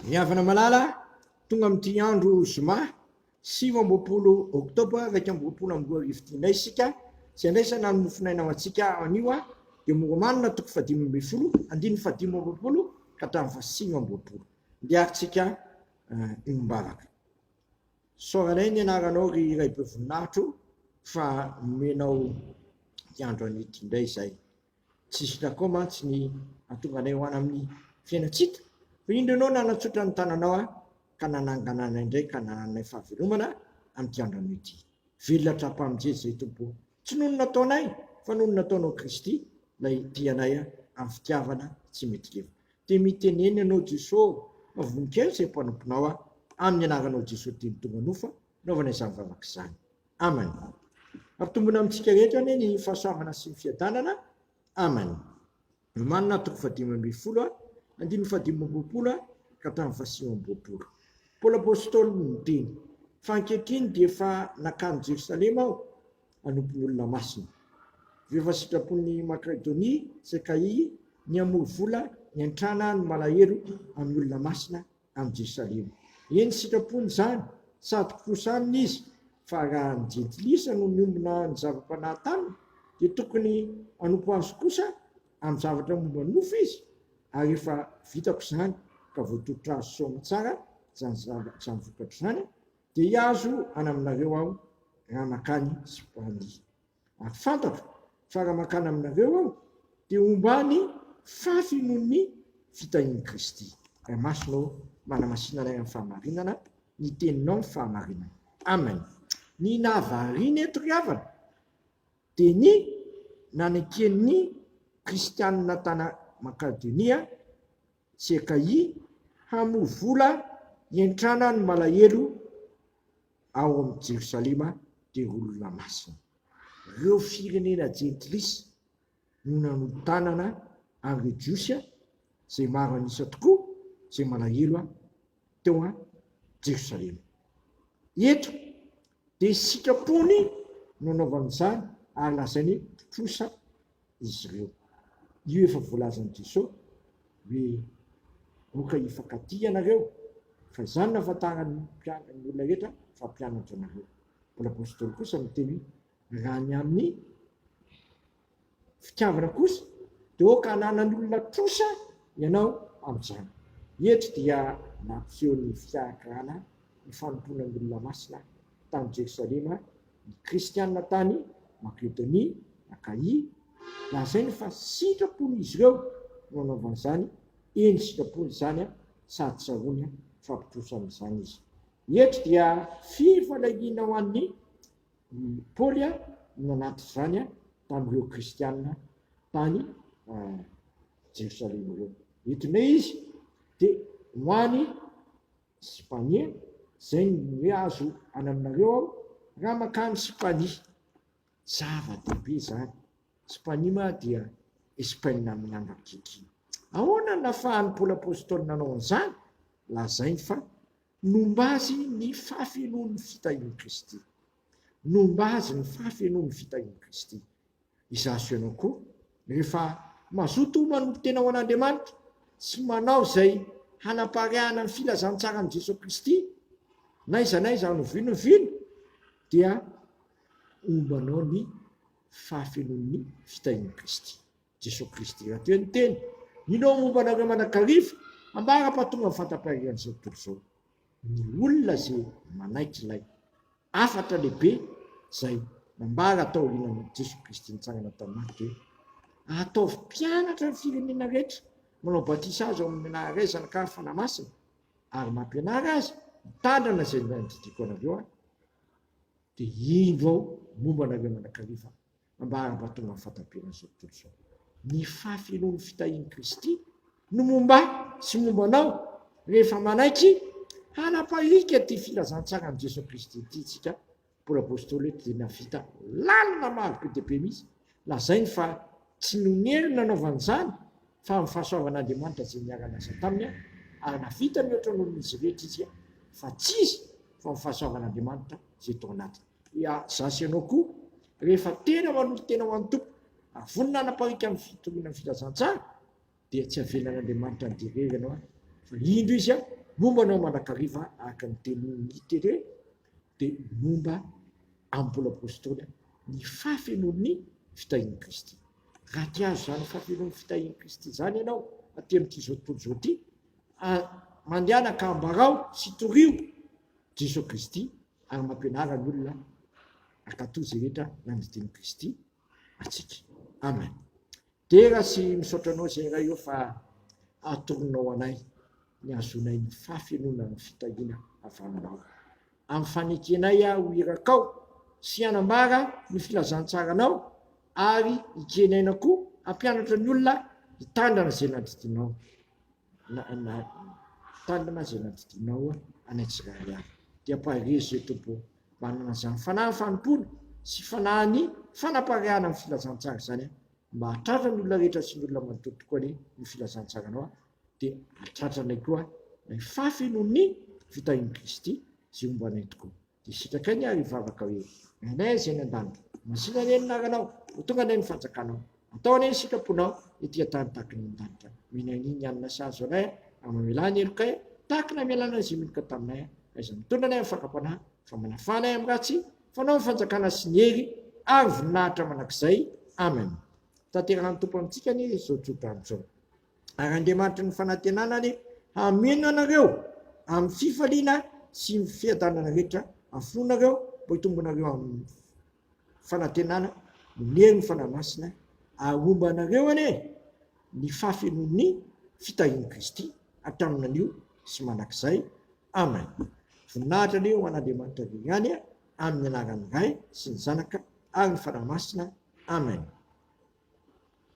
Ny havana malala tonga amin'ity andro zoma sivy amby roapolo oktobra iraika amby roapolo amby roa arivo ity indray isika sy handraisana ny mofonaina ho antsika anio a dia moromanina toko fahadimy ambin'ny folo andininy fahadimy amby roapolo ka hatramin'ny fahasivy amby roapolo ndiarintsika eh, io mbavaka soranay ny anaranao ry iray be voninahitro fa nomenao ny andro an'ity indray izay Tsy izy Jakob mantsy ny nahatonga anay ho any amin'ny fiainantsika, fa indro ianao nanatsotra ny tananao ahy ka nanangana anay indray ka nananay fahavelomana amin'ity andrano ity. Velona hatrampamnjely izay Tompo o! Tsy noho ny nataonay fa noho ny nataonao Kristy ilay tia anay amin'ny fitiavana tsy mety levona. Dia mitenena ianao Jeso ô! Fa voninkazo izay mpanomponao aho, amin'ny anaranao Jeso teny tonga nofa naovana izany vavaka izany. Amany. Hampitombona amintsika rehetra anie ny fahasoavana sy ny fiadanana. Amany. Romanina toko fahadimy ambin'ny folo, andininy fahadimy amby roapolo ka hatramin'ny fahasivy amby roapolo. Paoly Apôstôly no niteny, Fa ankehitriny dia efa nankany Jerosalema aho hanompo ny olona masina. Avy eo efa sitrapon'i Makedonia sy Akaia ny hamory vola hiantrana ny malahelo amin'ny olona masina amin'i Jerosalema. Eny, sitrapony izany sady kirosa aminy izy, fa raha ny Jentilisa no miombona ny zava-panahy taminy, dia tokony hanompo azy kosa amin'ny zavatra momba ny nofo izy, ary efa vitako izany ka voatolotra azy soa aman-tsara izany zava, izany vokatra izany, dia hihazo any aminareo aho raha mankany Spania. ary fantatro fa raha mankany aminareo aho dia homba any fafy noho ny fitahian'i Kristy. Raha masina ô, manamasina anay amin'ny fahamarinana ny teninao ny fahamarinana. Amen. Ny nahavariana eto ry havana dia ny naneken'ny kristianina tana Macadonia, CKI, hamoa vola hientrana ny malahelo ao amin'i Jerosalema dia olona masina. Ireo firenena jentilisa no nanotanana an'ireo Jiosy, izay maro an'isa tokoa, izay malahelo teo an Jerosalema. Eto dia sitrapony no anaovany izany ary lazainy trosa izy ireo. Io efa voalazan'i Jesosy hoe moka hifankatia ianareo fa izany no ahafantaran'ny olona rehetra fa mpianatro ianareo. Paoly apostoly kosa miteny hoe raha ny amin'ny. fitiavana kosa dia ok hananany olona trosa ianao amin'izany. Hetry dia nampiseho ny fiahakrana ny fanompoana ny olona masina tany Jerosalema ny kristiana tany Makedonia, Akaia, lazainy fa sitrapon'izy ireo no anaovany izany, eny sitrapony izany sady sahony fa mpitrosa amin'izany izy. Hetry dia fifalaliana ho an'ny I Paoly no nanatrika izany tamin'ireo Kristianina tany Jerosalema ireo. Eto indray izy dia ho any Sipania, izay no hoe azo any aminareo aho raha mankany Sipania. Zava-dehibe izany. Sipania mantsy dia Espaina amin'ny andro ankehitriny. Ahoana no nahafahan'i Paoly Apostoly nanao an'izany? Lazainy fa Nomba azy ny fahafenoan'ny fitahian'i Kristy. Nomba azy ny fahafenoan'ny fitahian'i Kristy. Izaho sy ianao koa, rehefa mazoto homana ho tena ho an'Andriamanitra sy manao izay hanapariahana ny filazantsaran'i Jesoa Kristy, n'aiza n'aiza any oviana oviana, dia hombanao ny fahafenoan'ny fitahian'i Kristy. Jesoa Kristy raha toa ny teny inao momba anareo manakariva ambara fa tonga ny fatampaheran'izao tontolo izao ny olona izay manaiky ilay afatra lehibe izay nambara atao aorianan'i Jesoa Kristy nitsangana tao Marka hoe ataovy mpianatra ny firenena rehetra manao batisa azy ao amin'ny anarana iray zanakary fanahy masina ary mampianara azy mitandrina izay nandidiako anareo aho dia indro ao momba anareo manakariva Ambara mba tonga amin'ny fahatamperan' izao tontolo izao. Ny fahafenoan'ny fitahian'i Kristy no momba ahy sy momba anao rehefa manaiky hanapahika ity filazantsaran'i Jesoa Kristy ity isika. Paoly Apostoly eto dia nahavita lalina maro be dia be mihitsy. Lazainy fa tsy noho ny heriny nanaovany izany fa amin'ny fahasoavan' Andriamanitra izay niara-niasa taminy ary nahavita mihoatra noho ny izy rehetra izy fa tsy izy fa ny fahasoavan' Andriamanitra izay tao anatiny. Dia za sy ianao koa, rehefa tena manolo-tena ho an'ny Tompo, ary vonona hanapariaka ny fitoriana ny filazantsara, dia tsy havelan'Andriamanitra handeha irery ianao, fa indro Izy momba anao mandrakariva, araka ny tenin'i Tere, dia momba an'i Paoly Apostoly, ny fahafenoan'ny fitahian'i Kristy. Raha te hahazo izany fahafenoan'ny fitahian'i Kristy izany ianao, aty amin'itizao tontolo izao ity, mandehana ka ambarao sy torio Jesoa Kristy, ary mampianara ny olona hankatò izay rehetra nandidian'i Kristy antsika. Amen. Dera sy misaotra anao izay iray eo fa atoronao anay ny azonay ny fahafenoana ny fitahiana avy aminao. Amin'ny fanekenay aho irakao sy hanambara ny filazantsaranao ary ikeny aina koa hampianatra ny olona hitandrina izay naditinao. Na tanana izay nandidianao any Antsirabe any. Dia parier je te bo. Manana izany fanahin'ny fanompoana sy fanahin'ny fanapariahana ny filazantsara izany aho. Mba hahatratra ny olona rehetra sy ny olona manontolo tokoa anie ny filazantsaranao aho. Dia hahatratra anay koa ilay fahafenoan'ny fitahian'i Kristy izay homba anay tokoa. Dia sitrakay ny ahy hivavaka hoe, Ry Anay izay any an-danitra, masìna anie ny anaranao, ho tonga anie ny fanjakanao, atao anie ny sitraponao ety an-tany tahaka ny any an-danitra. Mino an'i Ny Anona Sazy ho anay ary mamelà ny helokay tahaka ny namelàna an'izay meloka taminay, ka izay mitondra anay amin'ny fakam-panahy, fa manafà anay amin'ny ratsy, fanao ny fanjakana sy ny hery ary voninahitra mandrakizay. Amen. Tanterahan'ny Tompo amintsika anie izao tsodrano izao. Ary Andriamanitry ny fanantenanany hameno anareo amin'ny fifaliana sy ny fiadanana rehetra afoanareo mba hitombonareo amin'ny fanantenana noho ny herin'ny Fanahy Masina, ary homba anareo anie ny fahafenoan'ny fitahian'i Kristy hatramin'ny anio sy mandrakizay. Amen. Voninahitra anie ho an'Andriamanitra avy haingany amin'ny anaran'ny Ray sy ny Zanaka ary ny Fanahy Masina. Amen.